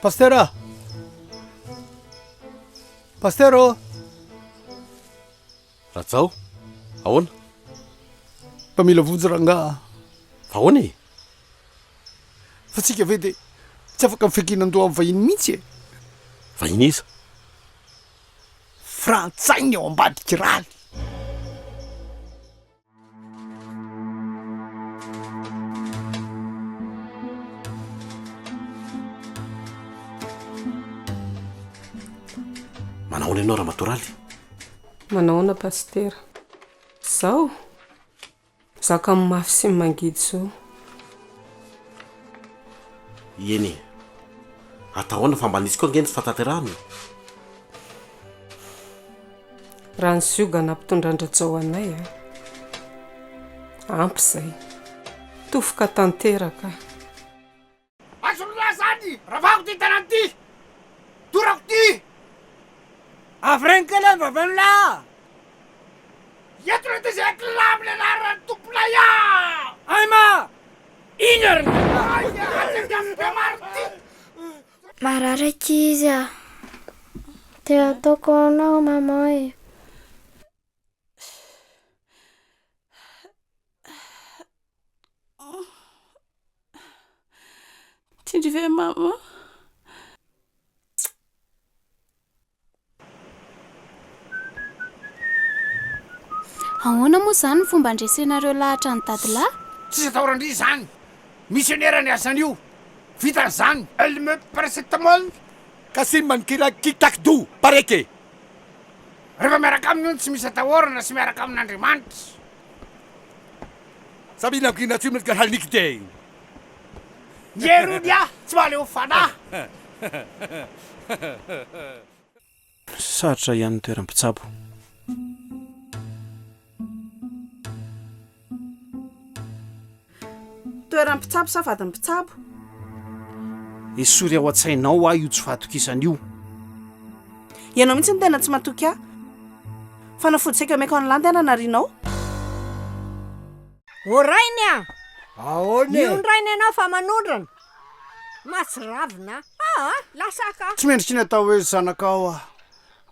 Pastera! Pastera ô! Rajao, ahoana? Mpamila vonjy rangaha. Fa ahoana e? Fa tsika ve dia tsy afaka mifankinan-doha amin'ny vahiny mihitsy e? Vahiny iza? frantsay ny ao ambadiky rany. Manahoana ianao Ramatoa Raly? Manahoana Pasitera? Zao? Zaka amin'ny mafy sy ny mangidy zo. Ieny e! Atao ahoana fa mba nisy koa ange ny tsy fahatanterahana e! Raha ny ziogana mpitondra an-dRajao anay a! Ampy izay. Tofoka tanteraka. Azony lahy zany! Ravako ty tanany ty! Dorako ty! Avereno kely any vavenao lahy a! Eto le tezay kila amle laharany tomponay a! Ay ma! Ino ary ny lahy? Mararaka izy a! Te ataoko ahoana aho maman e? Tsindry ve mama? Ahoana moa izany ny fomba handresenareo lahatra an'i dadilahy? Tsisy atao randria izany. Misionera ny asan'io. Vita izany. Elle me paracetamol ka simba ny kira kick tac do pareke. Rehefa miaraka aminy hono tsy misy atahorana sy miaraka amin'Andriamanitra. Sabina Gina tsy mety haliky dia. Ny hery hono ah, tsy mahaleo fanahy. Sarotra ihany ny toeram-pitsabo. Toeran'ny mpitsabo sa vadin'ny mpitsabo? Esory ao an-tsainao aho io tsy fahatokisana io. Ianao mihitsy no tena tsy matoky ahy. Fanafody saika omeko an'i Landy aho nanarianao. O Rainy a! Ahoana e? Miono Rainy ianao fa manondrana. Mahatsiravina aho. Aa! Lasa ka! Tsy mendrika ny atao hoe zanakao aho.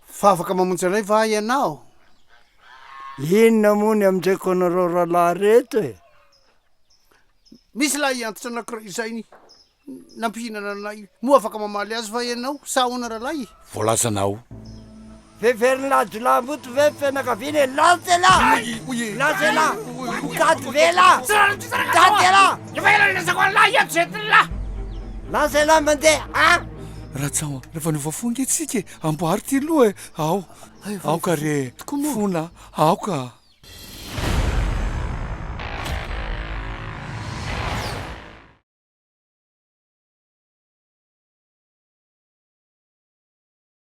Fa afaka mamonjy anay va ianao? Inona moa ny amdreko anareo rahalahy reto e? Nisy lahy antitra anankiray izay ny nampihinana anay. Moa afaka mamaly azy va ianao sa ahoana rahalahy e? Voalazanao. Veverin'ny lahajolahamboto ve ny fianakaviana e? Lance ela! Lance ela! Mitady ve ela? Mitady ela! Efa ela nilazako an'lah ianto zay ty lah! Lance ela mandeha, an! Ratsao, rehefa niova fo ange tsika e! Amboary ty loha e! Ao, Aoka re fona aoka.